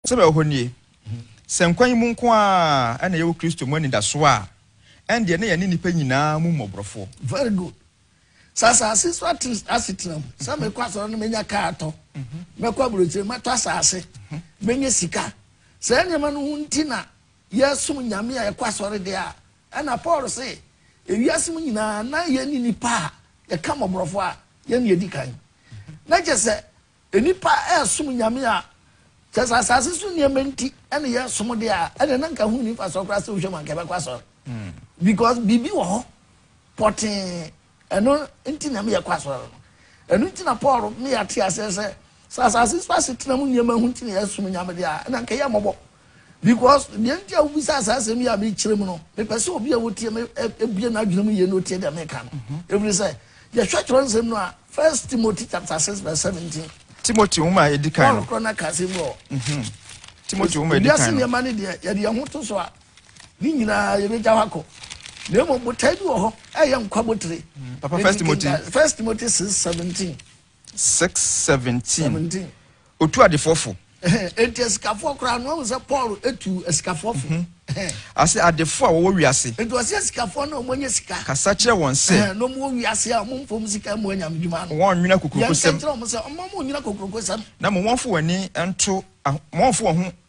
Sɛdeɛ ɛwɔ hɔ nie, sɛ nkwa yi mu nko ara na yɛwɔ Kristo mu anidasoɔ a, ɛndeɛ na yɛne nnipa nyinaa mu mmɔborɔfoɔ. Very good. Sɛ asase so ate asetena mu sɛ mekɔ asɔre no mɛnya kaa atɔ, mɛkɔ aburokyire mɛtɔ asase, mɛnya sika, saa nneɛma no ho nti na yɛsom Nyame a yɛkɔ asɔre deɛ a, Ɛnna Paul se, Ewiase mu nyinaa na yɛne nnipa a yɛka mmɔborɔfo a yɛn na yɛdi kan. Na kyerɛ sɛ, nnipa resom nyame a kyerɛ sɛ asase so nneɛma nti na yɛresom de a, ɛnna na nka ho nni mfasoɔ koraa sɛ wohwɛ mu anka yɛbɛkɔ asɔre. Because biribi wɔ hɔ pɔtee Ɛno nti na meyɛ kɔ asɔre no. Ɛno nti na Paul ne yɛn ate aseɛ sɛ, sɛ asase so asetena mu nneɛma ho nti na yɛsom Nyame deɛ a, ɛnna anka yɛ mmɔbɔ. Because, deɛ nti a wobisa a saa asɛm yi a mekyerɛ mu no, mepɛ sɛ obi a ɔtie me bue n'adwene mu yie na ɔtie deɛ meka no. Ɛfiri sɛ, yɛhwɛ twerɛ nsɛm no a, First Timothy chapter 6 verse 17. Timothy nwoma a ɛdi kan no. Paul korɔ na ka asɛm wɔ. Timothy nwoma a ɛdi kan no. Wiase nneɛma no deɛ, yɛde yɛn ho to so a, Ne nyinaa yɛbɛgya hɔ akɔ na mmom botae bi wɔ hɔ ɛyɛ nkwa botire papa first timothy first timothy six seventeen six seventeen otu adefoɔ fo eti asikafoɔ koraa no wɔn sɛ paul etu asikafoɔ fo mhm. ase adefoɔ a wɔwɔ wiase eti wɔsi asikafoɔ na wɔn nyɛ sika kasa kyerɛ wɔn sɛ na wɔn wɔ wiase a wɔn mpom sika mu anyam dwuma no wɔn nwina kokoroko sɛm yɛn kɛntɛn wɔn sɛ wɔn mo nwina kokoroko sɛm na mo wɔn fo wɔn ani nto wɔn fo wɔn ho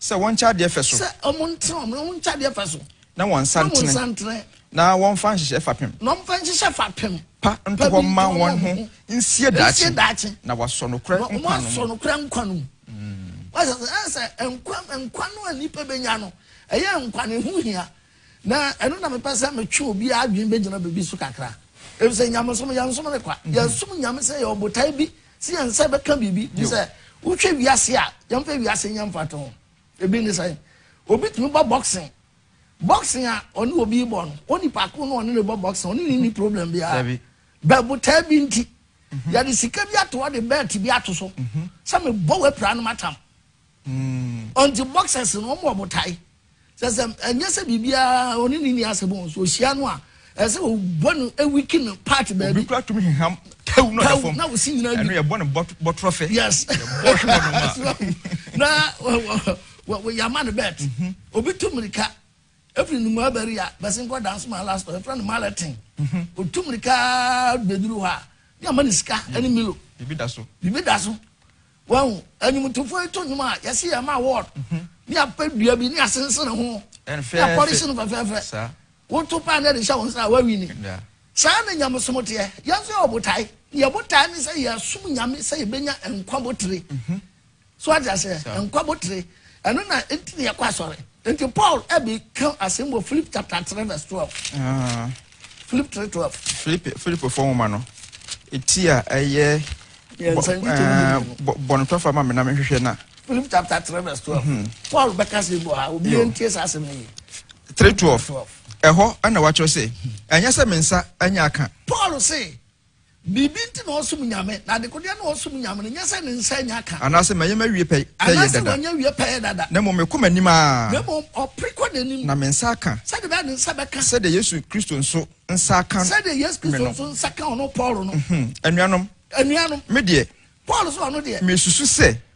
Sɛ wɔnkyɛ adeɛ fɛ so. Sɛ wɔnte wɔn ho nkyɛ adeɛ fɛ so. Na wɔnsantene. Na wɔmfa nhyehyɛ fapem. Na wɔmfa nhyehyɛ fapem. Pa nto hɔ mma wɔn ho nsie daakye. Na wɔasɔ nokorɛ nkwa no mu. Na wɔasɔ nokorɛ nkwa no mu. Wɔasɛ sɛ ɛyɛ sɛ nkwa nkwa no a nnipa bɛnya no ɛyɛ nkwa no ho hia. Na ɛno na mepɛ sɛ metwe obi adwene bɛgyina biribi so kakra. Ɛfiri sɛ nyamesom yɛnsom ne kwa. Yɛsom nyame sɛ yɛwɔ botae bi. Sɛ yɛn nsa bɛka biribi, gye sɛ wohwɛ wiase a, yɛmfa wiase nyɛ mfatoho. ho. Ebi ne sɛn? Obi tumi bɔ boxing. Boxing a ɔne obi bɔ no, wo nipa ko no ɔne ne bɔ boxing, ɔne ne ni problem biara. Bɛ botaa bi nti, mhm. yɛde sika bi ato hɔ de bɛɛte bi ato so mhm. sɛ mebɔ w'apira no matam. Ɔnti boxers no ɔmo wɔ ɔmo tae. Sɛ sɛ ɛnyɛ sɛ biribiara ɔne ne ni asɛm o, so ohyia no a ɛsɛ sɛ ɔbɔ no ɛwiki no part baabi. Obi kura tumi heham tawu no ɛfam. Na osi nyina ɛno yɛbɔ no bɔtorɔ fɛ. Yes. Yɛbɔ hwe wɔ no ma. Na yɛama no bɛt. Mhm. Obi tu mirika ɛfiri ne mu abɛri a bɛsi nkɔ danso ma last ɔ ɛfrɛ no maletin. Mhm. Otu mirika bɛduru hɔ a ne ama ne sika ɛne milo. Bibi da so. Bibi da so. Wahu, nnwomtofoɔ yi to nnwom a, yɛse yɛma award, ne apɛ dua bi, ne asensene ho, ne apɔlehye no fɛfɛɛfɛ. Woto paa na yɛde hyɛ wo nsa a, woawini. Saa na nyamesom teɛ. Yɛn nso yɛwɔ botae. Yɛn botae ne sɛ yɛasom Nyame sɛ yɛbɛnya nkwa botire. So ate aseɛ? Nkwa botire. Ɛno na nti na yɛkɔ asɔre. Nti Paul ɛbɛka asɛm wɔ Philip chapter 3 verse 12. Filipi 3:12. Filipi Filipifo nwoma no eti a ɛyɛ bɔnetɔfo ama me na mehwehwɛ na. Filipi chapter three verse twelve. Hmm. Paul bɛka sɛ bɔ ha obi yɛn tie saa asɛm no yie. Three twelve ɛhɔ ɛna wakyerɛ sɛ ɛnyɛ sɛ me nsa anya aka. Paul se Biribi nti na ɔsom Nyame, na adekodeɛ na ɔsom Nyame no nyɛ sɛ ne nsa anya ka. Anaasɛ manyɛ m'awie pɛyɛ dada. Anaasɛ wanyɛ awie pɛyɛ dada. Na mmom mekɔ m'anim ara. Na mmom ɔpere kɔ n'anim. Na me nsa aka. Sɛdeɛ ɛbɛyɛ a ne nsa bɛka. Sɛdeɛ Yesu Kristo nso nsa aka me no. Sɛdeɛ Yesu Kristo nso nsa ka ɔno Paulo no. Anuanom. Anuanom. Me deɛ. Paulo so ɔno deɛ. Mesusu sɛ.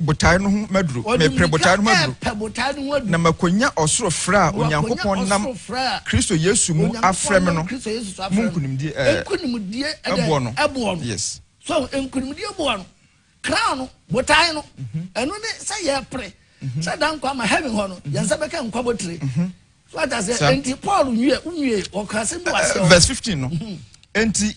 botae no ho maduru. Ɔde mmirika repɛ botae no ho aduru. Na makonya ɔsoro frɛ a Onyankopɔn nam Kristo Yesu mu afrɛ me no mu nkonimdie. Ɛɛ, nkonimdie ɛboɔ no. Ɛboɔ no. Yes. So nkonimdie boɔ no, crown no, botae no, mhm. ɛno ne sɛ yɛpere mhm. sɛ da nkwa ma heaven hɔ no, mhm. yɛn nsa bɛka nkwa botire. So ata sɛ, nti Paul nwie, nwie, ɔka sɛ bi wɔ aseɛ. Verse fifteen no, nti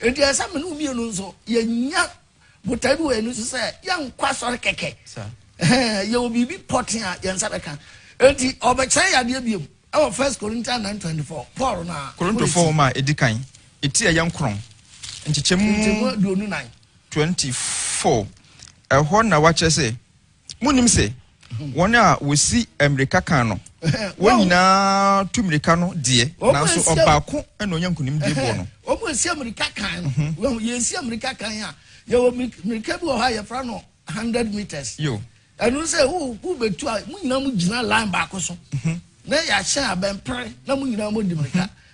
Enti ɛsɛ sɛ me ne wo mmienu nso yɛnya botae bi wɔ yɛn ani so sɛ yɛnkɔ asɔre kɛkɛ. Yɛwɔ biribi pɔtee a yɛn nsa bɛka. Enti ɔbɛkyerɛ yɛn adeɛ biom wɔ First Corinthians nine twenty four. Paul na. Korintofoɔ nwoma a ɛdi kan, eti a ɛyɛ nkorɔn, nkyekyɛmu. Nkyekyɛmu aduonu nan. Twenty four. Ɛhɔ na wakyerɛ sɛ. Munnim se wɔn a wɔsi mmirika kan no, wɔn nyinaa tu mmirika no deɛ, nanso ɔbaako na ɔnya nkonimdie boɔ no? Wɔn a ɛsi mmirika kan no, mhm. wɔn yɛsi mmirika kan a, yɛwɔ mmirika bi wɔ hɔ a yɛfra no hundred meters. Yo. Ɛno sɛ wobɛtu a, mo nyinaa mo gyina line baako so. Mhm. Na yɛahyɛ abɛmpere na mo nyinaa mo di mmirika. Mhm.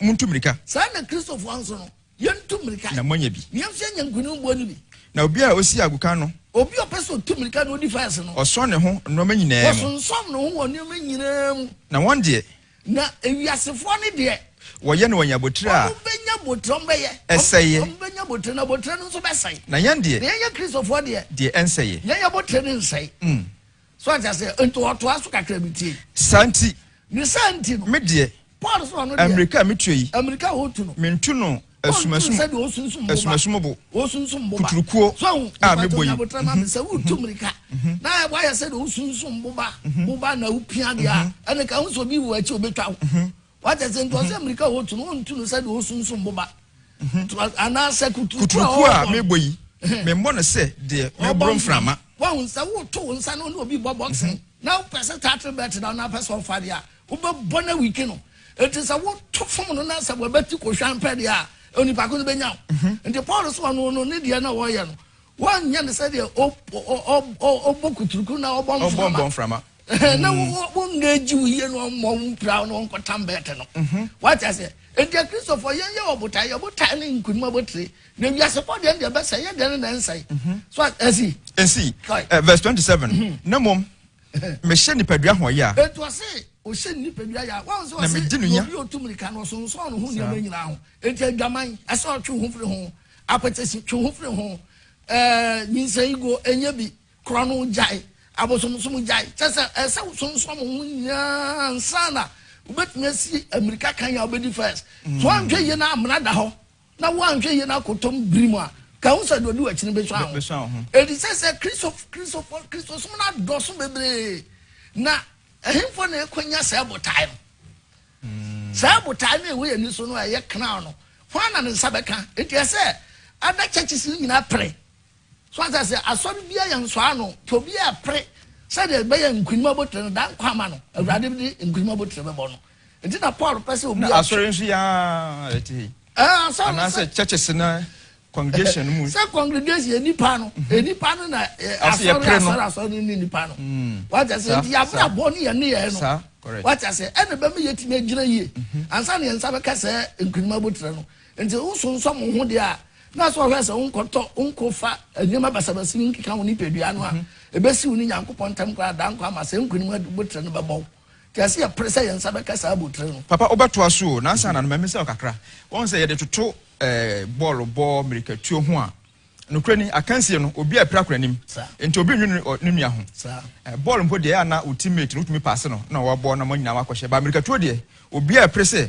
Montu mmirika. Saa ara na Kristofoɔ nso no, yɛntu mmirika. Na moanya bi. Na yɛmfa anya nkonimboɔ no bi. Na obi a ɔsi agoka no. Obi a ɔpɛ sɛ ɔtu mmirika na ɔdi fɛs no. Ɔsɔ ne ho nnoɔma nyinaa mu. Wɔsonsɔn ne ho wɔ nnoɔma nyinaa mu. Na wɔn deɛ. Na ewiasefoɔ no deɛ. Wɔyɛ na wɔanya abotire a. Wɔbɛnya abotire, wɔbɛyɛ. Ɛsɛeɛ. Wɔbɛnya abotire na abotire no nso bɛsɛe. Na yɛn deɛ. Na yɛn yɛ Kristofoɔ deɛ. Deɛ ɛnsɛeɛ. Yɛn abotire no nsɛe. So ate aseɛ? Nti ɔtoa so kakra bi tie. Saa nti. Ne saa nti no. Me deɛ. Paul sɛ ɔno deɛ. Amirika a metua yi. Amirika a ɔtu no. Mentu no asumasum. Ɔntu sɛdeɛ ɔsunsum boba. Asumasum bo. Ɔsunsum boba. Kuturukuo. So ahu. A me bɔ yi. Abotire ma me sɛ wotu mirika. Na wayɛ sɛdeɛ ɔsunsum boba. Boba na wopia deɛ a. Ɛne ka ho sɛ obi wɔ akyi obɛtwa wo. wate ase nti ɔsɛ mmirika a wɔtu no wɔntu no sɛdeɛ ɔsunsum boba anaasɛ kuturuku a mebɔ yi memmɔ no sɛ deɛ meboro mframa wahu sɛ woto wo nsa no ne obi bɔ boxing na wopɛ sɛ tatre bɛt da na wopɛ sɛ ɔfa deɛ a wobɛbɔ no awike no ɛti sɛ woto fom no na sɛ wɔbɛti kɔhwa mpɛ deɛ a onipa ko no bɛnya wo mhm. nti paul so ɔno no ne deɛ na wɔyɛ no wɔnyɛ no sɛdeɛ ɔbɔ kuturuku na ɔbɔ mframa na wɔnna agyi wo yie no ɔmmɔ wo mpira no ɔnkɔtam bɛɛte no wate aseɛ ɛnti akristofoɔ yɛnyɛ wɔ botae yɛ botae ne nkonim abɔtire na wiase bɔ deɛ deɛ bɛsɛ yɛ deɛ ne na ɛnsɛe so asi ɛsi verse 27 na mmom mehyɛ nipadua ho yɛ a ɛnti ɔse ɔhyɛ nipadua yɛ a wɔn sɛ ɔse obi ɔtu mmirika no ɔsonsɔn no ho nneɛma nyinaa ho ɛnti adwaman ɛsɛ ɔtwe ho firi ho apɛtɛsi twe ho firi ho nyinsɛn go ɛnyɛ bi Kora no gyae. Abosomsom gyae. Kyerɛ sɛ, ɛsɛ sɛ wosonsoa mo ho nyinaa ansa na wobɛtumi asi mmirika kan a wobɛdi first. So anhwɛ yie na amena da hɔ na woanhwɛ yie na akɔtɔm biri mu a, ka ho sɛ deɛ ɔdi w'akyi no bɛsua ho. Ɛdi sɛ sɛ Kristofo, Kristosom no adɔso bebree, na ɛhefoɔ na ɛkwanya saa botae no? Hmm. Saa botae no ɛwɔ yɛn ani so no ɛyɛ crown no, hwan na ne nsa bɛka? Enti ɛsɛ ada churches no nyinaa pere So ate aseɛ? Asɔre biara yɛ nsɔa ano, nti obiara ɛpere sɛdeɛ bɛyɛ nkunim abotire no, daa nkwa ama no, Awurade de nkunim abotire bɛbɔ no. Nti na Paul pɛ sɛ obiara twe. Na asɔre nso yɛ ara ɛte hei. Ɛɛ asɔre. Anaasɛ churches na congregation no mu. Sɛ congregation yɛ nipa no, yɛ nipa no na asɔre asɔre asɔre no ne nipa no. Wate aseɛ? Nti yabra bɔ ne yɛ ne yɛ no. Wate aseɛ? Ɛna bɛma yɛtumi agyina yie. Ansa na yɛn nsa bɛka sɛ nkunim abotire no. Enti wosonsɔ mo ho deɛ a, na sɛ ɔhwɛ sɛ wonkɔtɔ, wonkɔfa nneɛma basabasi no nkeka wo nipadua no a, ɛbɛsi wo ne Nyankopɔn ntam koraa daa nkwa ama sɛ nkonim abotire no bɛbɔ wo. Enti ɛsɛ yɛpere sɛ yɛn nsa bɛka saa abotire no. Papa wobɛtoa so o, nansa na no ma mesa wo kakra. Woahu sɛ yɛde toto bɔɔlo bɔ, mmirikatuo ho a, nokorɛ ni, akansie no, obiara repira kɔ n'anim. Enti obi nnwene ne nua ho. Bɔɔlo mpo deɛ, ɛyɛ a na wo team mate no, wotumi paase no na wabɔ na mo nyinaa moakɔhyɛ. But mmirikatuo deɛ, obiara repere sɛ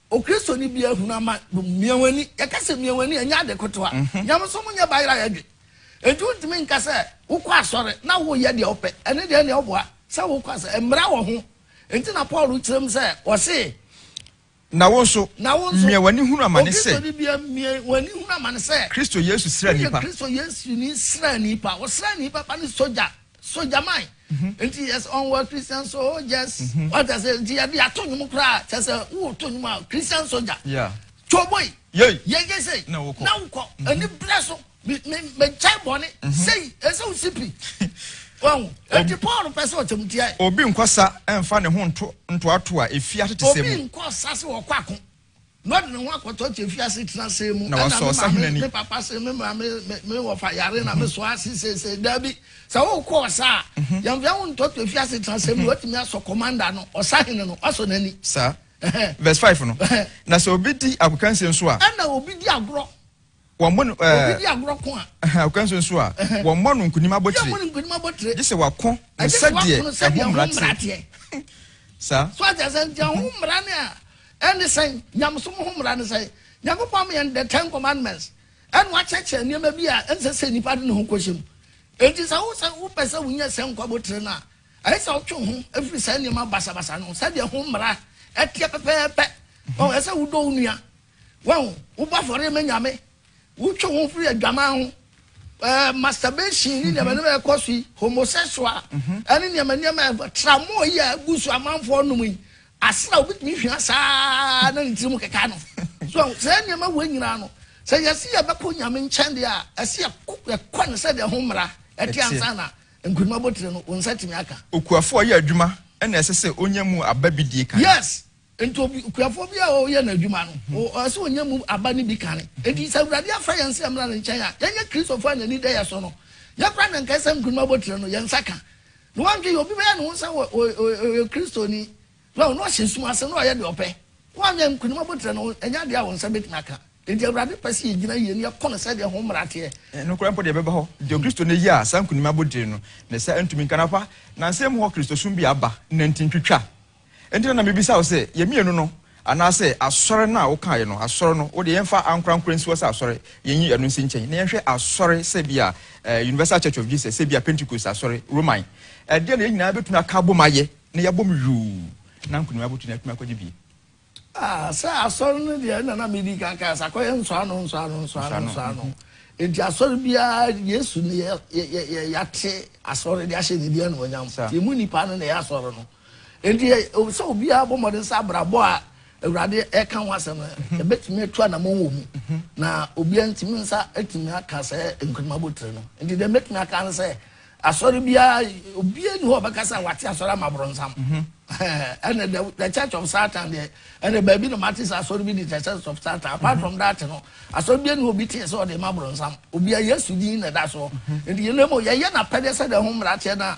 Okristoni biara hunu ama no mia wɔn ani. Yɛka sɛ mia wɔn ani a, ɛnyɛ ade kotoa. Mhm. Nyamesom nyɛ bayerɛ a yɛdwe. Enti wontumi nka sɛ wokɔ asɔre na woyɛ deɛ wopɛ. Ɛne deɛ ɛne ɔboa sɛ wokɔ asɔre. Mmara wɔ ho. Enti na Paul kyerɛ mu sɛ ɔse. Na wo nso, na wo nso mia w'ani hunu amane sɛ. Okristoni biara mia w'ani hunu amane sɛ. Kristo Yesu sra nnipa. Woyɛ Kristo Yesu ni sra nnipa. Ɔsra nnipa pa ne sogya. so gyaman mhm. nti yɛs ɔnwɔ christian soldiers mhm. wata sɛ nti yɛde ato nwom koraa kyɛ sɛ woto nwom a christian soldier twoboi yɛgye sei na wokɔ mhm. ani berɛ so megyae bɔne sei ɛsɛ wo sipi wahu ɛnti paul pɛ sɛ ɔkyɛmtiae obi nkɔ sa ɛmfa ne ho nto ntoatoa ɛfie atete sɛ mu obi nkɔ sa sɛ wɔkɔ ako Na ɔde ne ho akɔtɔ te afiase tena asɛe mu. Na wasɔ ɔsahene ani. Me papa se me maame me wɔfa yare na me soa ase seesei. Dabi, sɛ wokɔ ɔsa a, mhm. yɛmfea wo ntɔ te afiase tena asɛe mu. Mhm. Watumi asɔ kɔmanda no, ɔsahene no, wasɔ n'ani. Saa. Verse 5 no. Na sɛ obi di agokansie nso a. Ɛna obi di agorɔ. Wɔmmɔ no ɛɛ. Obi di agorɔ ko a. Ɛhɛn, ɔkwan so nso a. Ɛhɛn. Wɔmmɔ no nkonim abotire. Obi ammɔ no nkonim abotire. Gye sɛ wako no sɛdeɛ ɛho mmara teɛ. Saa. So ate asɛm nti ɛho mmara ne a ɛne sɛn? Nyamesom ho mmara ne sɛn? Nyankopɔn ama yɛn the ten commandments ɛna wakyerɛkyerɛ nneɛma bi a ɛnsɛ sɛ nipa de ne ho kɔhyɛ mu. Enti sɛ wo sɛ wopɛ sɛ wonya sɛ nkwa abotire no a, ɛyɛ sɛ wotwe ho afiri saa nneɛma basabasa no ho sɛdeɛ ɛho mmara ɛteɛ pɛpɛɛpɛ. Ɛsɛ sɛ wodɔ wo nua. Wahu? Wobɔ afɔre ma Nyame, wotwe wo ho firi adwaman ho, eh, masturbation ne nneɛma nneɛma ɛkɔ so yi, homosexual, mhm. ɛne nneɛma nneɛma ɛfa tramɔ yi a egu so amanfoɔ nom yi, asra obi tumi hwia saa na ne tirim keka no. So sɛ nneɛma wɔ nyinaa no, sɛ yɛsi yɛbɛkɔ Nyame nkyɛn deɛ a, ɛsi ɛkɔ ne sɛ deɛ ho mmara ɛte ansa na nkuruma botire no wɔn nsa tumi aka. Okuafo a ɔyɛ adwuma ɛna ɛsɛ sɛ onya mu aba bi die kan. Yes. Enti obi, okuafoɔ bi a ɔreyɛ n'adwuma no, o, ɔwɔ sɛ ɔnya mu aba no bi kane. Enti sɛ Awurade afrɛ yɛn sɛ yɛmmra Ne nkyɛn a, yɛnyɛ Kristofoɔ a n'ani da yɛn so no. Yɛn koraa na anka ɛsɛ sɛ nkonim abotire no, yɛn nsa ka. Ne woantwe yɛ, obi bɛyɛ ne ho sɛ ɔ, ɔ, ɔ, ɔyɛ Kristoni, na ɔ, na ɔhyɛ sum ase, na ɔyɛ deɛ ɔpɛ. Woanyɛ nkonim abotire no, ɛnyɛ adeɛ a wo nsa bɛtumi aka. Enti Awurade pɛ sɛ yɛgyina yie na yɛko no sɛdeɛ ho mmara teɛ. Nokorɛ mpo deɛ ɛbɛba hɔ, deɛ Okristoni yɛ a saa nkonim abotire no, ne nsa ntumi nka. Na fa, nansa mu hɔ Kristosom bi a aba, nanti ntwitwa Enti na na mebisa wo sɛ, yɛn mmienu no, anaasɛ asɔre no a wokaeɛ no, asɔre no, wo deɛ yɛmfa ankorankoro nsi hɔ sɛ asɔre, yɛnyi ɛno nsi nkyɛn, na yɛnhwɛ asɔre sɛ ebia eh, Universal Church of Jesus, sɛ ebia Pentecost asɔre, Roman, ɛdeɛ na yɛn nyinaa bɛtumi aka abom ayɛ, na yɛabom yuu, na nkonim abotiri na yɛatumi akɔgye bi. Ah, sɛ asɔre no deɛ, ɛna na medi kan kae sɛ akɔyɛ nsɔano, nsɔano, nsɔano, Nsɔano, nsɔano. mhm. Enti asɔre biara, Yesu ne yɛ, yɛ, yɛ, yɛ, yɛate asɔre de ahyɛ ne din animuonyam. Saa. Nti emu nnipa no na ɛyɛ asɔre no. Enti ɛwɔ sɛ obiara bɔ mmɔden sɛ abrabɔ a Awurade reka ho asɛm no, yɛbɛtumi atu anammɔn wɔ mu. Na obiara ntumi nsa atumi aka saa nkunim abotire no. Enti deɛ mɛtumi aka ne sɛ, asɔre biara, obiara nni hɔ a ɔbɛka sɛ wate asɔre ama boronsam. Ɛnna the, the church of Satan deɛ, ɛnna baabi na mate sɛ asɔre bi di the church of Satan. Apart from that no, asɔre biara nni hɔ obi tee sɛ ɔde ma boronsam. Obiara Yesu din na ɛda soɔ. Enti yɛn mu, yɛyɛ n'apɛdeɛ sɛdeɛ ɛho mmara teɛ no a,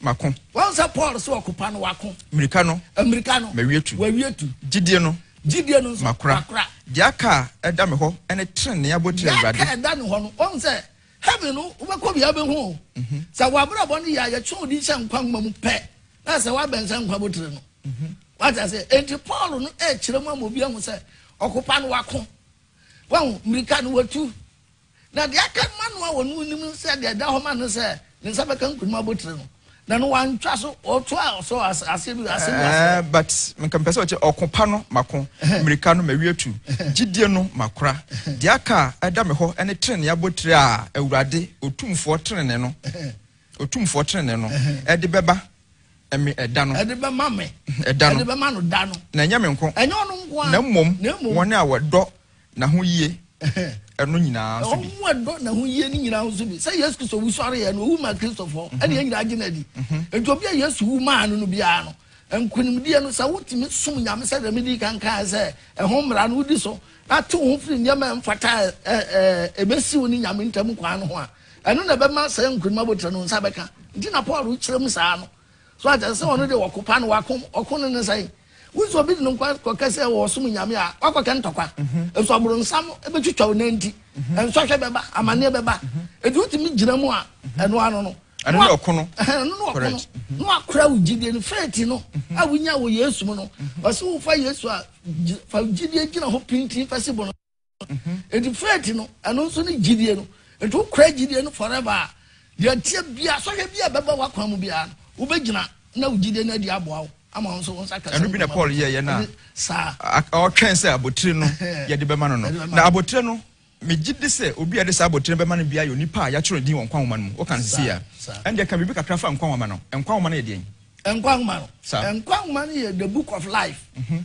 mako. Wahu sɛ Paul se ɔko pa no wako. Mmirika no. Mmirika no. Mawie tu. Wawie tu. Gyidie no. Gyidie no nso. Makora. Makora. Deɛ aka a ɛda me hɔ ne trenee abotire awurade. Deɛ aka ɛda ne hɔ no wahu sɛ heaven no wobɛkɔ bia bɛhu o. Mhm. Sɛ wabrabɔ no yɛ a yɛtwe odi hyɛ nkwa nwoma mu pɛ na sɛ wabɛn sɛ nkwa botire no. Mhm. Wata sɛ enti Paul no ɛkyerɛ mu ama obi ahu sɛ ɔko pa no wako. Wahu mmirika no watu. Na deɛ aka ma no a ɔno nim no sɛ deɛ ɛda hɔ ma no sɛ ne nsa bɛka nkunim abotire no na no wantwa so ɔtoa so aseɛ bi ase bi ase. Eh, but nka mpɛ sɛ ɔkyɛ ɔko pa no mako mmirika no mawie tu gyidie no makora deɛ aka a ɛda me hɔ ɛne tenenee abotire a awurade otumfoɔ tenenee no otumfoɔ tenenee no ɛde bɛba ɛmi ɛda no ɛde bɛma me ɛda no ɛde bɛma no da no na ɛnyɛ me nko ɛnyɛ ɔno nko a na mmom wɔn a wɔdɔ n'ahoyie ɛno nyinaa nso bi. Wɔn a dɔ n'ahoyie no nyinaa nso bi. Sɛ Yesu Kristo wusɔre yɛ no, owu maa Kristofo. Mhm. Ɛna yɛn nyinaa gye n'adi. Mhm. Nti obi a Yesu wu maa no no biara no, nkonimdie no sɛ wotumi som Nyame sɛ deɛ medi kan kan sɛ ɛho mmara no wodi so na te wo ho firi nneɛma a ɛmfata a ɛbɛsi wo ne Nyame ntam kwan no ho a ɛno na ɛbɛma sɛ nkonim abotire no nsa bɛka nti na Paul kyerɛ mu saa no So ate ase sɛ ɔno deɛ wɔko paa na wako ɔko no ne sɛn? Wohu sɛ obi de ne nkwa kɔka sɛ wɔsom nyame a wakɔka ntɔkwa. Nso aboronsam bɛtwitwa wo nan ti. Nsɔhwɛ bɛba, amanneɛ bɛba. Enti wotumi gyina mu a, ɛno ano no. Ɛno ne ɔko no. Ɛno ne ɔko no. Na wakora wo gyidie no. Faith no a wonya wɔ Yesu mu no, ɔse wofa Yesu a, fa gyidie gyina hɔ pintinn fa si bo no. nti faith no ɛno nso ne gyidie no nti wokura gyidie no forever a deɛ teɛ bia sɔhwɛ bia bɛba wakwan mu bia no wobɛgyina na wo gyidie no adi aboa wo ama wo nso wo nsa kasa ɛno bi na Paul yɛyɛ no a ɔtwɛn sɛ abotire no yɛde bɛma no no na abotire no megye de sɛ obi a yɛde saa abotire bɛma no bia yɛ onipa a yɛatwerɛ din wɔ nkwa nwoma no mu woka no sisi a ɛndeɛ ka biribi kakra fa nkwa nwoma no nkwa nwoma no yɛ deɛn nkwa nwoma no nkwa nwoma no yɛ the book of life mm -hmm.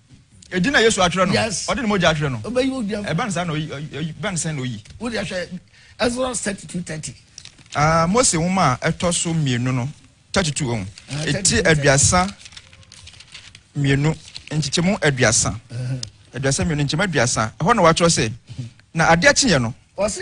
Edin na Yesu atwerɛ no. Yes. Ɔde ne mogya atwerɛ no. Ɔbɛyi wo dua. Ɛbɛn sɛ na oyi bɛn sɛ na oyi. Wo de ahwɛ Ezra thirty two thirty. Ah, Mose nwoma a ɛtɔ so mmienu no thirty two ohun. Ah, Eti aduasa mmienu nkyekyɛmu aduasa. Aduasa mmienu nkyɛmu aduasa. Ɛhɔ na wɔatwerɛ sɛ na adeɛ kyeeɛ no. Wɔsi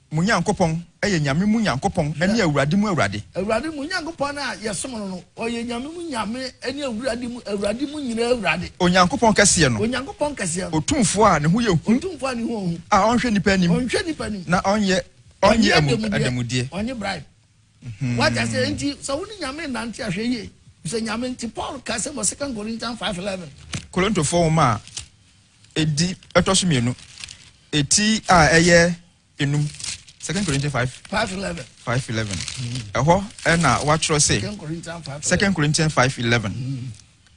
Mo Nyankopɔn yɛ Nyame mu Nyankopɔn ne Awurade mu Awurade. Awurade, mo Nyankopɔn a yɛsom no no, ɔyɛ Nyame mu Nyame ne Awurade mu Awurade mu nyinaa Awurade. Onyankopɔn kɛseɛ no. Onyankopɔn kɛseɛ no. Otumfoɔ a ne ho yɛ hu. Otumfoɔ a ne ho yɛ hu. A ɔnhwɛ nnipa anim. Ɔnhwɛ nnipa anim. Na ɔnyɛ, ɔnnye adanmudeɛ. Ɔnnye bribe. Wate aseɛ? Enti sɛ wo ne Nyame nnante a, hwɛ yie. Sɛ Nyame nti, Paul ka sɛ wɔ Second Corinthians five eleven. Korintofoɔ nwoma a Edi ɛtɔ so mmienu, eti a ɛyɛ enum, Second Corinthians five. Five eleven. Five eleven. Mm. Ɛhɔ ɛna wɔatwerɛ sɛ. Second Corinthians five. Second Corinthians five eleven. Mm.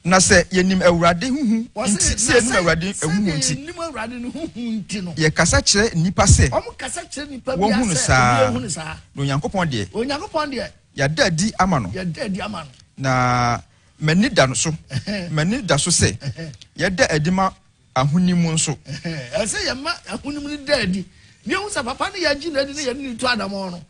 Na sɛ yɛnim awurade huhu nti sɛ yɛnim awurade huhu nti yɛkasa kyerɛ nnipa sɛ wɔhu no saa na onyankopɔn deɛ yɛada adi ama no na M'ani da no so, m'ani da so sɛ yɛda adi ma ahonim nso. Ɛsɛ sɛ yɛma ahonim no da adi na yɛhu sɛ papa no yɛagye no adi na yɛne ne tu anammɔn no.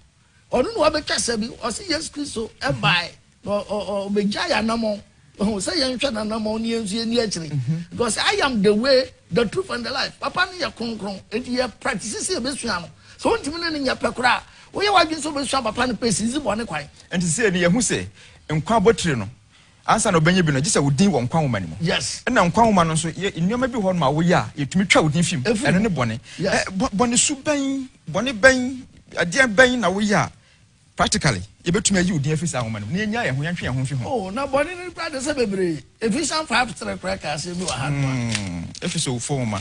Ɔno na wabɛtwa sa bi. Ɔse Yesu Kristo bae na ɔbɛgya yɛ anammɔn ɔhu sɛ yɛnhwɛ n'anammɔn ne yɛn nso yɛnni akyire. Because I am the way, the truth and the life. Papa no yɛ kronkron nti yɛ practice sɛ yɛbɛsua no. Sɛ wontumi ne no nyɛ pɛ koraa a, woyɛ w'adwene sɛ wobɛsua papa no pɛ si, dzi bɔne kwan. Nti sei no yɛhu sɛ Nkwa abotire no, ansa na wobɛnya bi no, gye sɛ wo din wɔ nkwa nwoma no mu. Ɛna nkwa nwoma no nso, yɛ nneɛma bi wɔ hɔ nom a woyɛ a, yɛtumi twa wo din fi mu. Ɛno ne bɔne. Ɛ, bɔ, bɔne su bɛn, bɔne bɛn, ɛdeɛn bɛn na woyɛ a, practically, yɛbɛtumi ayi wo din afiri saa nwoma no mu, na yɛnnyaa yɛn ho, yɛntwe yɛn ho mfi ho? Oh, na bɔne no kura de sɛ bebree. Ephesians five three koraa ka aseɛ bi wɔ ha nom a. Hmm, Efeso wofo nwoma.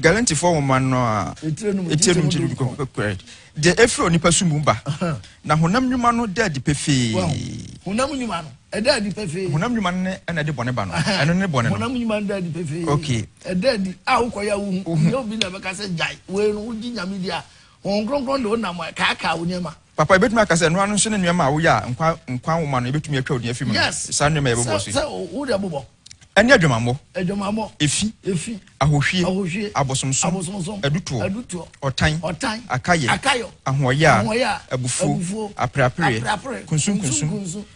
Galantifoɔ nwoma no a etire no mu gyidi du kɔkɔ pɛpɛrɛ deɛ efiri onipa su mu ba na honam nnwuma no da adi pefee. honam nnwuma no ɛda adi pefee. honam nnwuma no ne ɛna ɛde bɔne ba no ɛno ne bɔne no. honam nnwuma no da adi pefee. okay ɛda adi a wokɔyɛ a wohu nyɛ obi na ɛbɛka sɛ gyae wei no wogye nyame di a Honhom Kronkron de wo nam ɛ kaakaa wo nneɛma. Papa yɛbɛtumi aka sɛ ɛno ara no nso ne nneɛma a woyɛ a nkwa nkwa nwoma no yɛbɛtumi atwa wo din afi mu no Yes, saa nneɛma a yɛbobɔ so yi. sɛ sɛ wo deɛ bobɔ. Ɛne adwamammɔ, Adwamammɔ, efi, efi, ahohwie, ahohwie, abosomsom, abosomsom, adutoɔ, adutoɔ, ɔtan, ɔtan, akayɛ, akayɔ, ahoɔyaa, ahoɔyaa, abufuo, abufuo, apereapereɛ, apereapereɛ, kunsunkunsun, kunsunkunsun,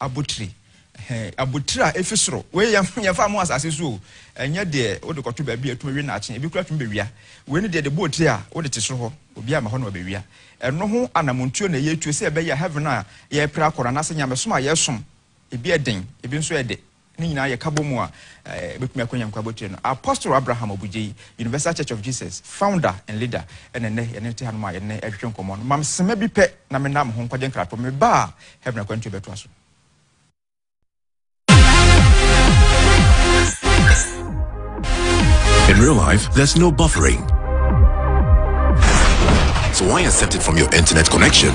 abotire. Ɛhɛn, abotire a efi soro. Wei yɛ, yɛmfa mo asase so o. Ɛnyɛ deɛ wode kɔto baabi a etumi we nnaakye. Ebi koraa tumi bɛwia. Wei ne deɛ de bɔɔ tire a wode te soro hɔ. Obiara mma hɔ na wabɛwia. Ɛno ho anamontuo na yɛretuo sɛ ɛbɛyɛ a heaven a yɛrepere akɔ no anaasɛ nyamesom a yɛresom, ebi yɛ den, ebi nso yɛ dɛ. Ne nyinaa yɛ ka bɔ mu a, ɛbɛtumi akɔ Nyankwa abotire no. Apostle Abraham Obugyei, Universal Church of Jesus founder and leader, ɛna nnɛ yɛne no te hanom a yɛne no ɛretwetwe nkɔmmɔ no. Mam sema bi pɛ na menna mo ho nkwagye nkratoɔ. Meba a, heaven akwantuo bɛtoa so. In real life, there's no buffering. So why accept it from your internet connection?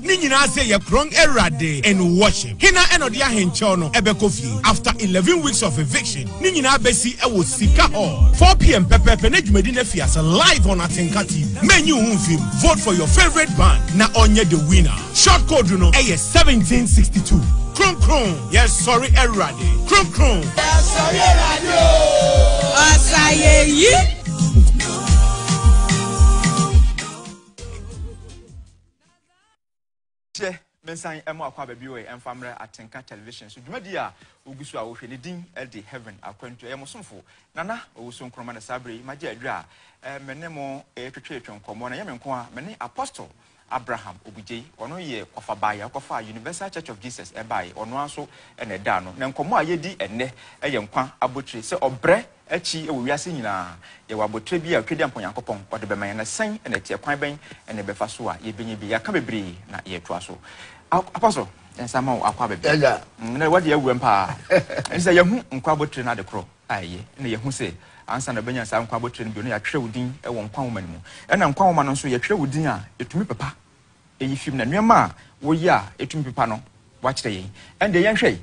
Ne nyinaa se yɛkrɔn Awurade in worship. Hena na ɔde ahenkyɛw no bɛkɔ fie after eleven weeks of eviction? Ne nyinaa besi wɔ Sika Hall four pm pɛpɛɛpɛ na dwumadi no afi ase live on Atenka TV. Mɛnyi wo ho mfi mu. Vote for your favorite band na ɔnyɛ the winner. Short code no yɛ seventeen sixty two. Kronkron, yɛsɔre Awurade. Kronkron. Yɛsɔre Awurade o. Ɔsayeyi. Kyɛ mensan mmɔ akwaaba bio ɛ mfa mmrɛ Atenka Television so dwumadi a wogu so a wohwɛ ne din de Heaven Akwantu. Ɛyɛ mo somfo Nana Owusu Nkrumah na saa bere yi magye aduru a me ne mo retwetwetwe nkɔmmɔ. Na ɛnyɛ me nko a, me ne Apostle Abraham Obugyei, ɔno yɛ ɔfabaayi a ɔkɔfaa Universal Church of Jesus ɛbaeɛ, ɔno ara nso na ɛda ano. Na nkɔmmɔ a yɛredi ɛnnɛ yɛ nkwa abotire sɛ ɔbrɛ. Akyi wɔ wiase nyinaa, yɛwɔ abotire bi a Twedeampa Onyankopɔn ɔde bɛma yɛn. Ɛsɛn na ɛteɛ. Kwan bɛn na yɛbɛfa so a yɛbɛnya bi? Yɛaka bebree na yɛretoa so. Apostle, yɛn nsa ma wo akɔ aba bi. Nnɛ woadi awuram pa ara. Ɛne sɛ yɛahu nkwa abotire no adekorɔ a ɛyɛ, na yɛahu sɛ ansa na wobɛnya saa nkwa abotire no bio no, yɛatwerɛ wo din wɔ nkwa nwoma no mu. Ɛna nkwa nwoma no nso, yɛtwerɛ wo din a, ɛtumi pepa Eyi fi mu na nneɛma a woyɛ a etumi pepa no, wɔakyerɛ yɛn. Ɛnde yɛnhwɛ.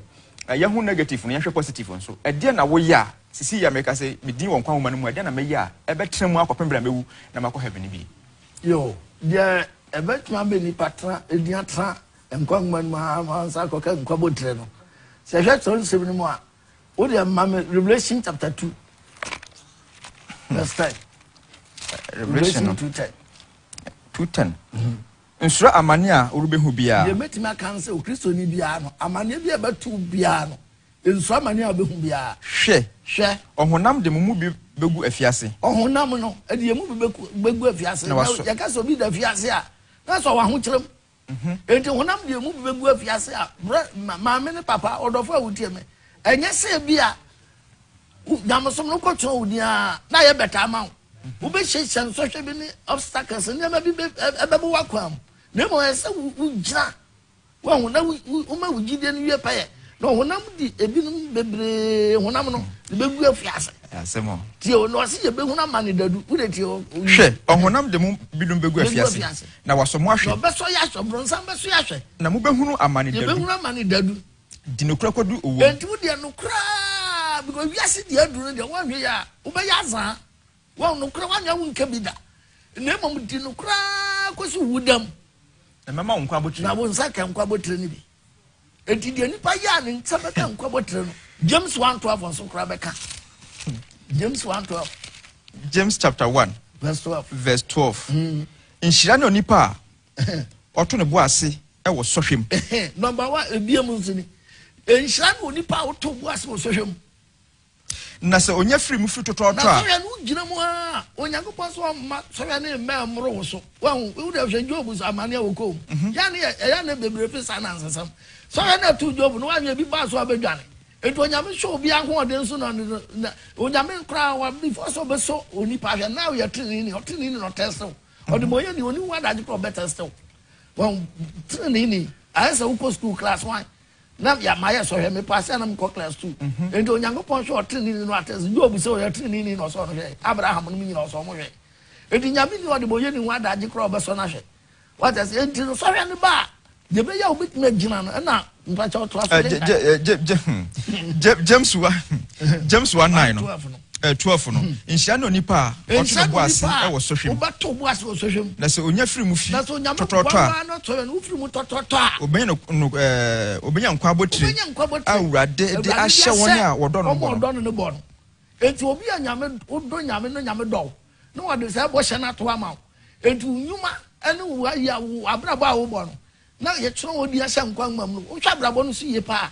Yɛahu negative no, yɛnhwɛ positive nso. Ɛdeɛn na woyɛ a, sisi yi a meka sɛ me din wɔ nkwa nwoma no mu a, ɛdeɛn na mɛyɛ a ɛbɛtena mu akɔpem berɛ a mɛwu na makɔ heaven no bi? Yo, deɛ ɛbɛtumi ama nnipa tena, din atena nkwa nwoma no mu ara ma wɔasan akɔka nkwa abotire no. Sɛ yɛhwɛ Kyerɛwnsɛm no mu a, wo deɛ ma me Revelation chapter two verse ten. Revelation no, two ten. Nsuro amane a worebɛhu biara. Deɛ mɛtumi aka ne sɛ Okristoni biara no, amaneɛ bi a ɛbɛto wo biara no, nsuro amaneɛ a wobɛhu biara. Hwɛ! Hwɛ! Ɔhonam de mo mu bi bɛgu afiase. Ɔhonam no de yɛn mu bi bɛgu afiase. Na yɛka sɛ obi da afiase a, na sɛ ɔwɔ ahokyerɛ mu. Enti honam deɛ mu bi bɛgu afiase a, brɛ, ma, maame ne papa, ɔdɔfo a wotie me, ɛnyɛ sɛ ebia wo nyamesom no kɔtɔn wo din ara na ayɛ bɛtaa ama wo. Wobɛhyiahyia nsɔhwɛ bi ne obstacles, nneɛma bi bɛ, ɛ, ɛbɛbɔ w'akwan mu. Na mmom ɛyɛ sɛ wo, wogyina, wahu, na wo, wo, woma wo gyidie no wie pɛyɛ. Na honam de ebinom bebree, honam no, de bɛgu afiase. Asɛm o. Tie o, na ɔse yɛbɛhunu amane dadu. Wode tie o, o, Hwɛ, ɔhonam de mu binom bɛgu bɛgu afiase. afiase. Na wɔasɔ mo ahwɛ. Na wɔbɛsɔ yɛn ahwɛ. Ɔbrɔnsam bɛsɔ yɛn ahwɛ. Na mobɛhunu amane dadu. Yɛbɛhunu amane dadu. De nokorɛ kɔdu owuo mu. Enti wo deɛ nokorɛ aa. Because wiase deɛ aduru no deɛ woanhwɛ yie a, wobɛyɛ azaa. Wɔn nokorɛ woanhwɛ a wonka bi da. Na mmom di nokorɛ aa kɔsi owuda mu. Na mɛma wo nkwa abotire. Na wo nsa ka nkwa abotire no bi. Enti deɛ nipa yɛ a ne nsa bɛka nkwa bɔtire no, James one twelve nso koraa bɛka. James one twelve. James chapter one. Verse twelve. Verse twelve. Mm. Nhyira ne onipa a ɔto ne bo ase wɔ sɔhwɛ mu. Number one, ebia mu nso ni. Nhyira ne onipa a ɔto bo ase wɔ sɔhwɛ mu. Na sɛ onya firi mu firi totɔɔtɔ a. Na sɔhwɛ no wogyina mu a Onyankopɔn sɛ ɔmma sɔhwɛ no mmɛ mmoro wo so. Wahu wo dɛ hwɛ Job so amane a wɔkɔɔ mu. Mhm. Yɛ ne ɛyɛ ne bebree pe saa nansesɛm. Sɔhwɛ no ɛtoo Job no wanyɛ bi baa so a ɔbɛdwane. Enti Onyame hyɛ obi ahoɔden so na na Onyame koraa wa before sɛ ɔbɛsɔ onipa hwɛ na ɔyɛ tenenee ni ɔtenenee ni na ɔtɛste wo. Ɔde ma ɔyɛ ni ɔni ho adagye koraa ɔbɛtɛste wo. Wɔn tenenee ni ayɛ sɛ wokɔ school class one. na deɛ mayɛ sɔhwɛ me paase a na mekɔ class two mhm. nti onyankopɔn hwɛ ɔteneneni no atɛ sɛ job sɛ ɔyɛ teneneni na ɔsɔ no hwɛ abraham no mu nyina ɔsɔ mo hwɛ nti nyame ni ɔde bɔyɛ ne ho adagye korɔ ɔbɛsɔ no ahwɛ wata sɛ nti no sɔhwɛ no ba a deɛ bɛyɛ a wobɛtumi agyina no ɛna mpakyɛ ɔtoa so eh, hmm. james wa hmm. james wa nine no Eh, twelve no, hmm. nhyira ne onipa a ɔto ne bo ase wɔ sɔhwɛ mu. Wobɛto bo ase wɔ sɔhwɛ mu. Na sɛ onya firi mu fi tɔtɔtɔ a. Na sɔhwɛ no wofiri mu tɔtɔtɔ a. Obenya no no ɛɛ eh, obenya nkwa abotire. Obenya nkwa abotire. A Awurade de ahyɛ wɔn a wɔdɔ no bɔ no. Wɔn a wɔdɔ no no bɔ no. Eti obi a nyame wodɔ nyame no nyame dɔw na wɔde sɛ ɛbɔ hyɛ no ato ama wo. Eti nnwuma ɛne wo ayɛ abrabɔ a wobɔ no na yɛtwerɛ wɔn di ahyɛ nkwa nwoma mu no wohwɛ abrabɔ no so yie paa.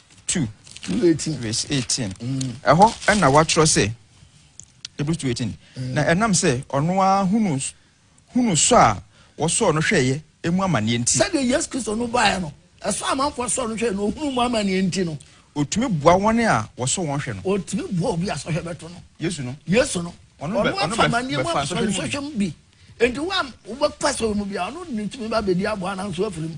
2 vs 18 ɛhɔ na wɔatwerɛ sɛ Hebrews 2 18 mm. na ɛnam sɛ ɔno ara hunu hunu sɔ a wɔsɔɔ no hwɛeɛ emu amanneɛ nti sɛdeɛ yesu kristo no baeɛ no ɛsɔ amanfoɔ sɔɔ no hwɛeɛ na ɔhunu mu amanneɛ nti no ɔtumi boa wɔn a wɔsɔ wɔn hwɛ no ɔtumi boa obi a sɔhwɛ bɛto no yesu no yesu no ɔno afa amanneɛ mu asɔhwɛ mu bi enti wo a wobɛfa sɔhwɛ mu bi a ɔno ne tumi ba bɛdi aboa nanso afiri mu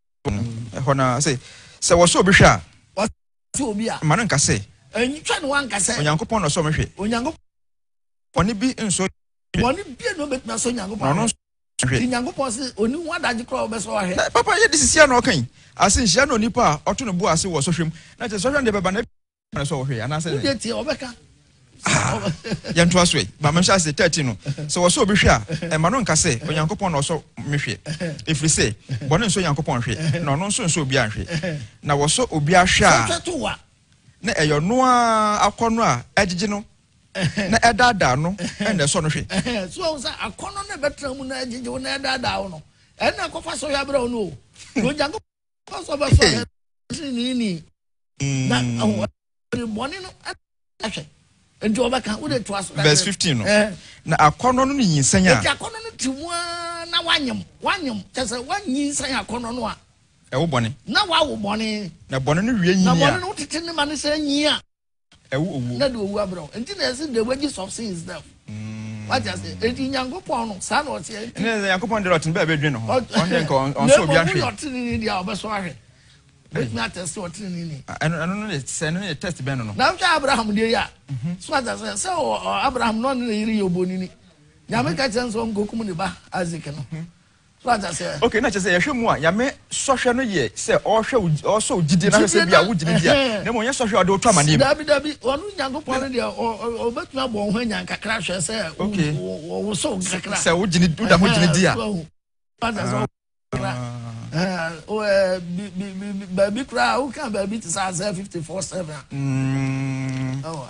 ɛhɔ no ara. Sɛ wɔsɔ obi hwɛ a, mma no nka sɛ, Onyankopɔn na ɔsɔ me hwɛ. Bɔne bi nsɔ na ɔno nsɔ hwɛ. Papa yɛ de sisi a na ɔka yi ase nhyia na onipa a ɔto no bo ase wɔ sɔhwɛ mu. Na kyerɛ sɔhwɛ no deɛ bɛba na na sɛ ɔhwɛ anaasɛ ne deɛ tie ɔbɛka ah, yɛntoa so ɛ ba mɛhyɛ ase 13 no sɛ wɔsɛ obi hwɛ a ɛma no nka sɛ onyankopɔn na ɔsɔ me hwɛ ɛfiri sɛ bɔne nsɔ onyankopɔn hwɛ na ɔno nso nsɔ obiaa nhwɛ na wɔsɔ obiaa hwɛ a na ɛyɛ ɔno a akɔ no a ɛgyegye no na ɛdaadaa no ɛna ɛsɔ no hwɛ so ɔhu sɛ akɔnnɔ no ɛbɛtena mu na ɛgyegye wo na ɛdaadaa wo no ɛna ɛkɔfa sɔhwɛ aberɛ wo no o Hey. Verse 15 no. Eh. Na akɔnɔ no ne nyinsɛn a. Eti akɔnɔ no ti mu a na wanyem wanyem kyɛ sɛ wanyinsɛn akɔnɔ no a. Ɛwo bɔne. Na wawo bɔne. Na bɔne no wie nyi a. Na bɔne no tete ne ma ne sɛ nyi a. Ɛwo owuo. Na de owuo abrɛ wo. Nti na yɛse the wages of sin is death. Wate aseɛ? Enti Nyankopɔn no, saa na ɔteɛ. Nti. Ɛnna Nyankopɔn deɛ ɔte no bɛɛ bɛdwene ne ho. Ɔn deɛ nka ɔnsɔ obi ahwɛ. Na mmom woyɛ ɔtenenee deɛ a, ɔbɛsɔ ahwɛ. Wobɛtumi atɛste ɔtenenee ni. Ɛno no yɛ sɛ ɛno yɛ test bɛn no no. Na wohwɛ Abraham deɛ yi a, mhm. so ate aseɛ sɛ Abraham na ɔne ne yere yɛ obonini. Nyame ka kyerɛ no sɛ ɔnkɔkum ne ba Isaac no. Mhm. So ata sɛ. Okay, na kyerɛ sɛ yɛhwɛ mu a Nyame sɔhwɛ no yɛ sɛ ɔhwɛ ɔsɔ gyidie na sɛ bia wogye no di a na mmom ɔnyɛ sɔhwɛ a ɔde wotɔ amaneɛ mu. Dabi dabi, ɔno Nyankopɔn no deɛ ɔbɛtumi abɔ wo ho anya kakra hwɛ sɛ wɔwosɔ wo kakra. Sɛ wogye no woda ho gyene di a. Ata sɛ baabi koraa woka baabi te sɛ asɛ 54 7 a.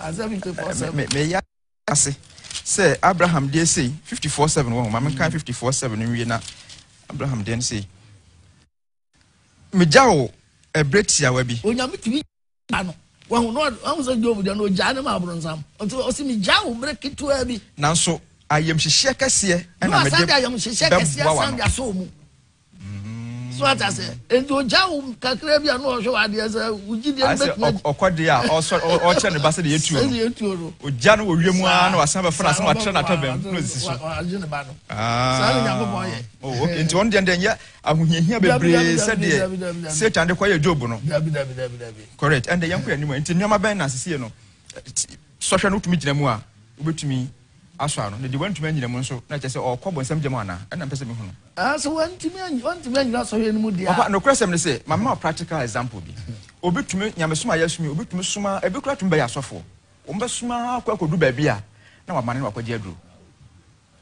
Asɛ 54 7. ase sɛ Abraham deɛ sei, 54 7 wɔ ho, ma menkan 54 7 nwie na Abraham deɛ no sei. Megya wo ɛberɛ tiawa bi. Onyame tumi gya no. Wahu no ahu sɛ Job deɛ no ogyaa ne ma aborɔnsam. Nti ɔsi megya wo berɛ ketewa bi. Nanso ayamhyehyeɛ kɛseɛ na mede bɛboa w'ano. so ata sɛ nti ogya wo kakra bi a na ɔhwɛ w'adeɛ sɛ wogye deɛ no bɛtumi adi ɔkɔ deɛ a ɔkyerɛ ne ba sɛ deɛ yɛtuo no yɛtuo no ogya no wɔwie mu ara na wasan bɛfa no ase na watrɛ no atabam na ɔsisi so agye ne ba no ah. saa ne nyankopɔn yɛ oh, nti ɔno deɛ deɛ nyɛ ahohiahia bebree sɛdeɛ satan de kɔyɛ job no correct ɛnde yɛnkɔ yɛ anim nti nneɛma bɛn na sesie no sɔhwɛ no wotumi gyina mu a wobɛtumi asɔ ano, na deɛ wantumi anyina mu nso, na kyerɛ sɛ ɔrekɔ bonsam gya mu anaa? Ɛnna mepɛ sɛ mehu no. Ah, sɛ wantumi anyi, wantumi anyina sɔhwɛ no mu deɛ a. Papa, nokorɛsɛm ne sɛ, mamema wo practical example bi. Obi tumi, nyamesom a yɛasom yi, obi tumi som ara, ebi koraa tumi bɛyɛ asɔfoɔ. Wɔbɛsom ara kɔ akɔdu baabi a, na wamane na wakɔgye aduro.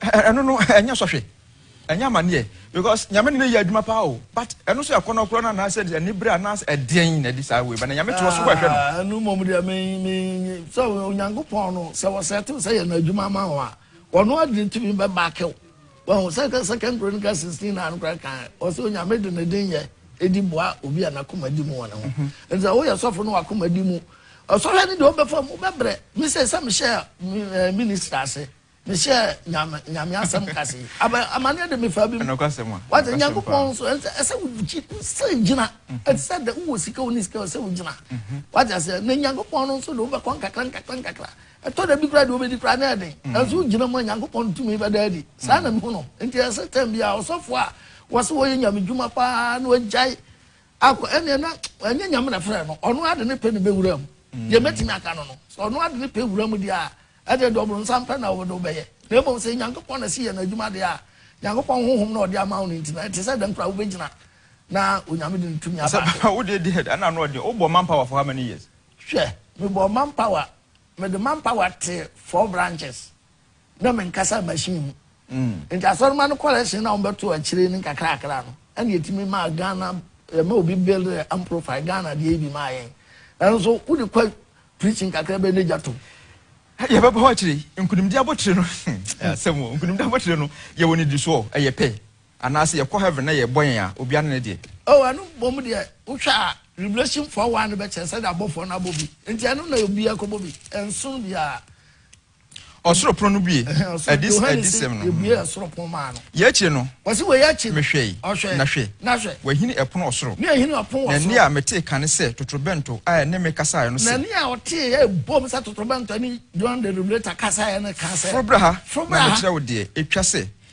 Ɛ, ɛ, ɛno no, ɛnyɛ sɔhwɛ. Ɛnyɛ amaneɛ because Nyame ne no yɛ adwuma paa o but ɛno nso yɛ akɔnɔ korɔ no anaasɛ anibere anaasɛ ɛdeɛn na ɛde saa wei ba na Nyame toɔ so hɔ ɛhwɛ no. Ah ɛno mmom deɛ me me nye sɛ Onyankopɔn no sɛ wɔsɛtew sɛ yɛ no adwuma ma wo a ɔno ara de tumi bɛ back wo wahu sɛ ka Second Chronicle 16 na no koraa kan ɔsɛ Onyame de ne den yɛ ɛdi boa obi a n'akoma di mu wɔ ne ho ɛnti sɛ woyɛ sɔfo no w'akoma di mu ɔsɔhwɛ no deɛ ɔbɛfa mu bɛbrɛ me sɛ sɛ mehyɛ ministry ase Me hyɛɛ Nyame, Nyame asɛm kase yi. Aba, amaneɛ de me faa bi mu. Ɛnokwa sɛm a. Wate, ɛnokwa sɛm Nyankopɔn paa. nso, ɛsɛ, ɛsɛ wo gyi, wo sɛ gyina. Mhm. Ɛte sɛ dɛ, wowɔ sika, wonni sika, ɛsɛ wo gyina. Mhm. Wate aseɛ, na Nyankopɔn no nso de wobɛkɔ nkakra, nkakra, nkakra. Ɛtɔ da bi koraa deɛ wobɛdi koraa na ɛyɛ den. Mhm. Nanso wogyina mu a, Nyankopɔn tumi bɛda adi. Saa na mehu no. Nti ɛsɛ tɛm biara, ɔsɔfoɔ a wɔse wɔyɛ Nyame dwuma paa na wagyae akɔ, ɛneɛ na, ɛnyɛ Nyame na ɛfrɛɛ no, ɔno ara de ne pɛ na ɛbɛwura mu. Deɛ mɛtumi aka no no, sɛ ɔno ara de ne pɛ wura mu deɛ a, Ɛnde ɛde ɔbronsam pɛ na wode wobɛyɛ. Na mmom sɛ Nyankopɔn na ɛse yɛ no adwuma deɛ a, Nyankopɔn Honhom na ɔde ama wo no nti no, ɛte sɛ dɛn koraa a wobɛgyina na Onyame de ne tumi aba so. Ɔsɛ, Papa, wodeɛ di head ɛna ano ɔden, wobɔɔ manpower for how many years? Hwɛ, mebɔɔ manpower, mede manpower tee four branches, na menkasaa machine mu. Nti Asɔremma no correction no a wɔbɛtoo akyire no nkakrakra no, ɛna ɛtumi maa Ghana, ɛma obi build amprofile, Ghana deɛ yi bi maa yɛn. Nanso wode kɔ Preaching kakra bɛyɛ n'agya to. Ɛdeɛ ɛbɛba hɔ akyire yi, nkunimdie abotire no, ɛyɛ asɛm o, nkunimdie abotire no, yɛwɔ no di soɔ, ɛyɛ pɛ, anaase yɛkɔ heaven na yɛbɔ yɛn a, obiara ne ne deɛ. Oh, ɛno mmom deɛ, wohwɛ a, Revelation four one no bɛkyerɛ sɛdeɛ abɔfoɔ no abɔ bi, enti ɛno na obiara kɔbɔ bi, ɛnsono biara. Ɔsoro pono no bue. Adisɛm no. Yei akyi no, mehwɛe, na hwɛ, wɔahini ɛpono ɔsoro, na ɛnne a metee kane sɛ totorobɛnto a ɛne me kasaeɛ no se, Foro bra ha, na mekyerɛ wo deɛ ɛtwa sɛ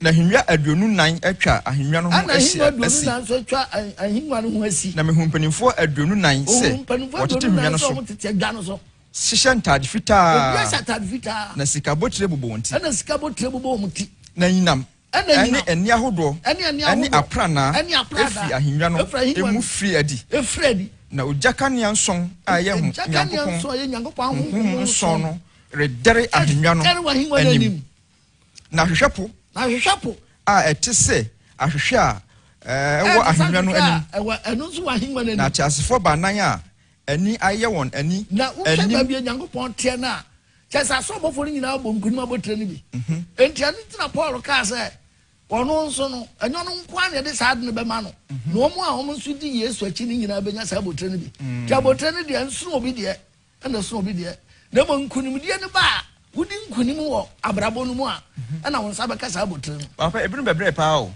Na ahennwa aduonu nnan atwa ahennwa no ho ahyia asi. Ɛna ahennwa aduonu nnan nso atwa ahennwa no ho asi. Na mehuu mpanimfoɔ aduonu nnan sɛ wɔtete ahennwa no so hyehyɛ ntaade fitaa, na sika abotire bobɔ wɔn ti, na sika abotire bobɔ wɔn ti, na anyinam ne ani ahodoɔ ne apranaa firi ahennwa no mu firi adi, na ogya kanea nson a ɛyɛ Onyankopɔn honhom nson no redɛre ahennwa no anim. Na hwehwɛ po. Na hwehwɛ po. A ɛte sɛ ahwehwɛ a ɛwɔ ahennwa no anim. Ɛwɔ ɛno nso wɔ ahennwa no anim. Na ateasefoɔ baanan a ani ayɛ wɔn ani anim. Na wohwɛ baabi a Nyankopɔn teɛ no a, kyerɛ sɛ asɔbɔfoɔ no nyinaa bɔ nkonim abotire no bi. Mhm. Enti ɛno nti na Paul kaa sɛ ɔno nso no, ɛnyɛ ɔno nko ara na ɛde saa ade no bɛma no. Mhm. Na wɔn a wɔn nso di Yesu akyi no nyinaa bɛnya saa abotire no bi. Nti mhm. abotire no deɛ, ɛnsono obi deɛ. Nna so obi deɛ, na mmom nkunimdie no ba a wodi nkunim wɔ abrabɔ no mu a, ɛna wo nsa bɛka saa abotire no. Papa, ebinom bɛbrɛ paa o.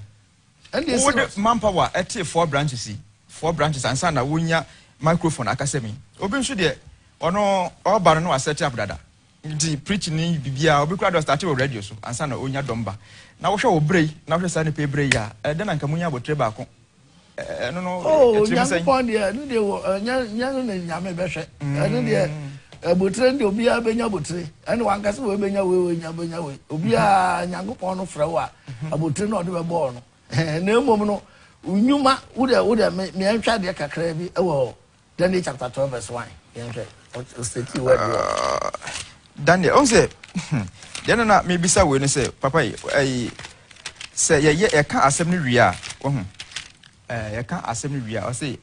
Ɛnde esi Wode hɔ. manpower ɛtee four branches yi, four branches ansa na wonya microphone akasam yi. Obi nso deɛ, ɔno ɔba no na waset up dada. Nti preaching ne biribiara, obi koraa deɛ ɔstarte wɔ radio so ansa na onya dɔm ba. Na wohwɛ wo berɛ yi, na wohwɛ saa nnipa yi berɛ yi a, ɛɛ dɛn na anka monya abotire baako Oh Nyankopɔn deɛ ɛno deɛ wɔ ɛnyɛ nyɛ no na Nyame bɛhwɛ ɛno deɛ abotire no deɛ obiara bɛnya abotire ɛna wankasa wei bɛnya wei wei nya bɛnya wei obiara Nyankopɔn no frɛ wo a abotire na ɔde bɛbɔɔ no na mmom no nnwuma wo deɛ wo deɛ me meɛntwa deɛ kakra bi ɛwɔ Daniel chapter twelve verse one yɛn hwɛ o state word wɔ. Daniel ɔn sɛ hmm, deɛ no na mebisa wei no sɛ papa yi ɛyi sɛ yɛyɛ yɛka asɛm no wie a wahu ɛɛ yɛka asɛm no wie a ɔsɛ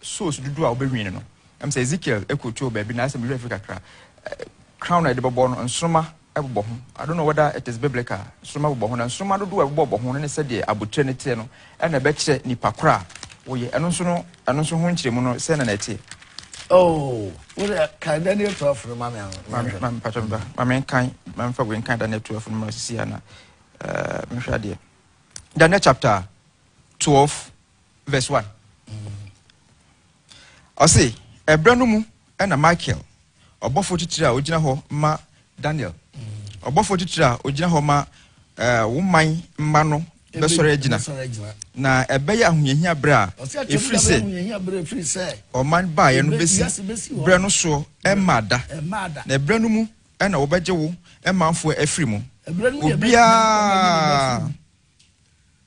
souls dodoɔ a wobɛwin no ɛm sɛ Ezekiel ɛkotuo baabi na asɛm mehwɛ afiri kakra crown a yɛde bɛbɔ no nsoroma bobɔ ho. I don't know whether it is biblical, nsoromma bobɔ ho, na nsoromma dodoɔ a ɛbobɔ ho no ne sɛdeɛ abotire no teɛ no ɛna ɛbɛkyerɛ nipa korɔ a woyɛ. Ɛno nso no, ɛno nso ho nkyerɛmu no sɛn na na ɛteɛ? Oh, wo deɛ kan Daniel 12 no ma me ano. Ma me, ma me patro mba, ma me nkan, ma me fa wei nkan Daniel 12 no ma sisi ana, uh, eh, mehwɛ adeɛ. Daniel chapter 12 verse 1 ɔse ɛberɛ no mu ɛna michael ɔbɔfoɔ titire a ɔgyina hɔ ma daniel ɔbɔfoɔ titire a ɔgyina hɔ ma eh, wo man mma no bɛsɔre agyina na ɛbɛyɛ ahohiahia berɛ a ɛfiri sɛ ɔman baeɛ no bɛsi berɛ no soɔ ɛmma da na ɛberɛ no mu ɛna wɔbɛgye wo manfoɔ afiri mu obiara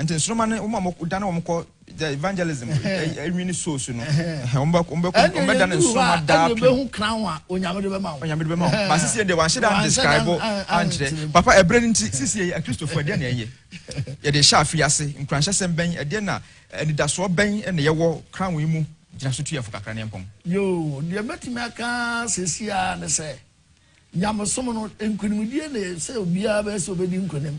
Nti nsoroma no wɔn a wɔdane wɔn kɔ the evangelism nwini sow so no wɔn bɛ wɔn bɛ wɔn bɛ dane nsoroma daa pii. ɛnna yɛn hu crown a onyame de bɛ ma wo. onyame de bɛ ma wo ba sisi yɛ de wɔahyɛ dan describe ankyerɛ papa ɛbrɛ ne nti sisi yɛ akristofo ɛdeɛ na ɛyɛ yɛde hyɛ afi ase nkuranhyɛsɛm bɛn ɛdeɛ na anidasoɔ bɛn na yɛwɔ crown yi mu gyina so tu yɛn fo kakra ne mpɔn. yoo deɛ mɛtumi aka sisi a ne sɛ nyamesom no nkunimdie na sɛ obiara bɛ sɛ obɛdi nkunim.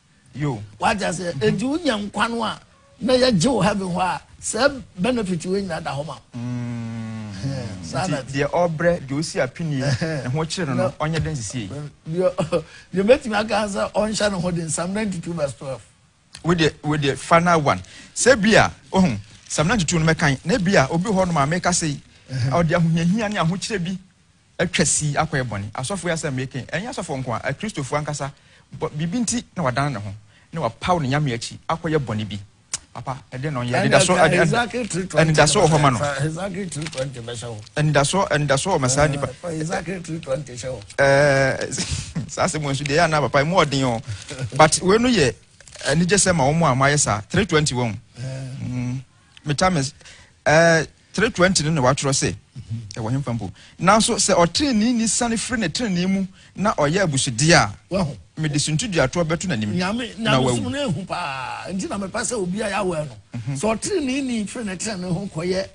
Yo. Wate aseɛ? Enti wonya nkwa no a na yɛgye wo heaven hɔ a, saa benefit wei nyinaa da hɔ ma wo. Mm. Saa na Nti deɛ ɔbrɛ, deɛ ɔsi apinie, ne ho kyere no no, ɔnyɛ den nsisie yi. Deɛ deɛ mɛtumi aka sɛ ɔnhyɛ ne ho den, Psalm 92 verse 12. Wo deɛ wo deɛ fa na one. Sɛ bi a, ohun, Psalm 92 no mɛkan, na bi a, obi hɔ nom a meka sei, ɔde ahohiahia ne ahokyerɛ bi atwa sii akɔyɛ bɔne. Asɔfo yi asɛm a mereka yi, ɛnyɛ asɔfo nko ara, Kristofo ankasa, bɔ, biribi nti na wadan ne ho, na wapaw ne nyame akyi akɔyɛ bɔne bi. Papa, ɛdeɛn na ɔnyɛ? Anidaso, ani, ani, anidaso wɔ hɔ ma no. Anidaso, anidaso wɔ ma saa nipa. Ɛɛ, saa asɛm wɔ nso deɛ ɛyɛ anaa papa, emu ɔden o. But wei no yɛ anigyesɛm ma wɔn a wɔayɛ saa. 320 wɔn. metames ɛɛ three twenty no na watwerɛ se ɛwɔ hemfa mpo nanso sɛ ɔtenenee ni sane firi ne tenenee mu na ɔyɛ abusudeɛ a wahu mede suntuduatoɔ bɛto n'anim nyame na wawu nyamesom no ehu paa nti na mepɛ sɛ obi a yɛawɛ no mhm. sɛ ɔtenenee ni firi ne tenenee ho kɔyɛ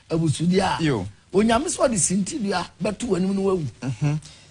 abusudeɛ a Yo. onyame sɛ ɔde sintidua bɛto w'anim no wawu mhm.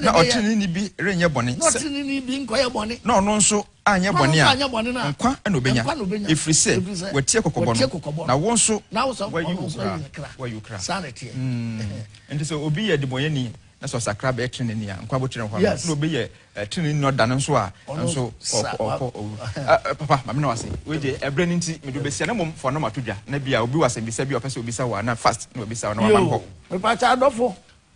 na ɔteneneeni bi renyɛ bɔne, na ɔno nso anyɛ bɔne a, nkwa na obenya, ɛfiri sɛ watie kɔkɔbɔ no, na wo nso wɔayi wo kra. Wɔayi wo kra. Nti sɛ obi yɛ debɔnyɛni na sɛ ɔsakra bɛyɛ teneneeni a, nkwa bɔtire nkwa, na obi yɛ teneneeni na ɔda no nso a, nso ɔkɔ owu. Papa, mame na wase. Wei deɛ ɛbrɛ no nti mede obesia na mmom fɔnɔ mato dwa na bia obi wɔ asɛmbisa bi a ɔpɛ sɛ obisa wɔ a na fast na wabisa wɔ na wama no hɔ. Mepaakyɛ adɔfo,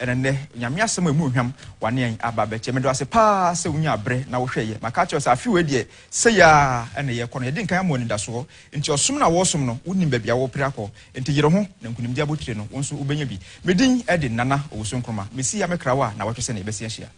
Ɛna nnɛ, Nyame asɛm a ɛmu nhwam wane yɛn aba abɛkyɛ. Meda wo ase paa sɛ wonyaa berɛ na wohwɛɛ yɛ. Maka akyerɛ wo sɛ afe wei deɛ, sei ara na yɛrekɔ no. Yɛde nkan ama wo anidasoɔ. Enti ɔsom no a woresom no, wonim baabi a worepere akɔ. Enti yere ho, na nkunimdie abotire no, wo nso wobɛnya bi. Me din de Nana Owusu Nkrumah. Mesi ha me kra wo a, nnawɔtwe sɛnea yɛbɛsi ahyia.